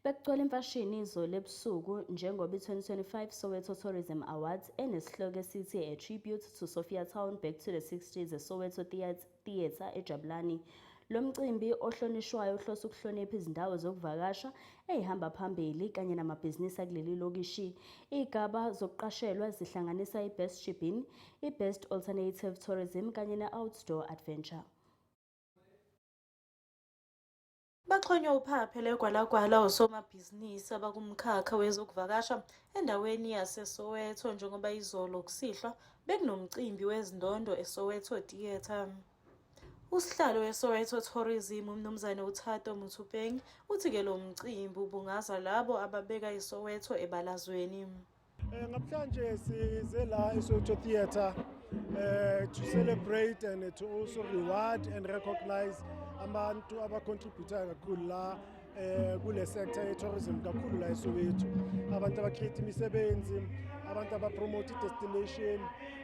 Bekugcwele imfashini izolo ebusuku njengoba i-2025 Soweto Tourism Awards enesihloko esithi A Tribute to Sophia Town Back to the 60s eSoweto Theatre eJabulani. Lo mcimbi ohlonishwayo uhlose ukuhlonipha izindawo zokuvakasha eyihamba phambili kanye namabhizinisi akuleli lokishi. Iy'gaba zokuqashelwa zihlanganisa i-Best Shibin, i-Best Alternative Tourism kanye ne-Outdoor Adventure. Baxhonywe uphaphe legwalagwala osomabhizinisi abakumkhakha wezokuvakasha endaweni yaseSoweto njengoba izolo kusihlwa bekunomcimbi wezindondo eSoweto Theatre. Usihlalo weSoweto Tourism uMnumzane uThato Motsoeneng uthi ke lo mcimbi ubungaza labo ababeka iSoweto ebalazweni. Eh, namhlanje size la eSoweto Theatre uh, to celebrate and to also reward and recognize abantu abacontributayo kakhulu la eh kule sector ye tourism kakhulu la eSoweto abantu abacreate imisebenzi abantu abapromote destination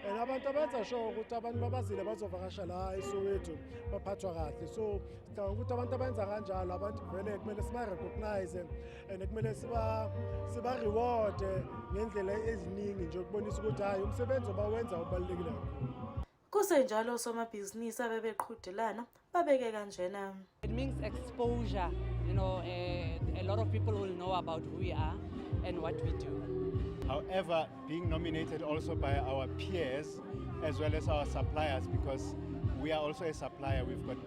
and abantu abenza sure ukuthi abantu babazile bazovakasha la eSoweto baphathwa kahle so sicabanga ukuthi abantu abenza kanjalo abantu vele kumele siba recognize and kumele siba siba reward ngendlela eziningi nje ukubonisa ukuthi hayi umsebenzi obawenza ubalekile kakhulu kusenjalo somabhizinisi abebeqhudelana babeke kanjena it means exposure you know uh, a lot of people will know about who we are and what we do however being nominated also by our peers as well as our suppliers because we are also a supplier we've got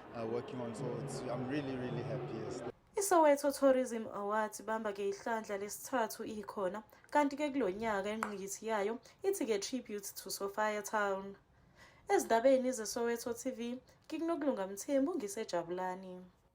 ISoweto Tourism Awards ibamba ke ihlandla lesithathu ikhona kanti ke kulo nyaka inqikithi yayo ithi ke Tribute to Sophia Town. Ezindabeni zeSoweto TV, ngikunokulunga Mthembu ngisejabulani.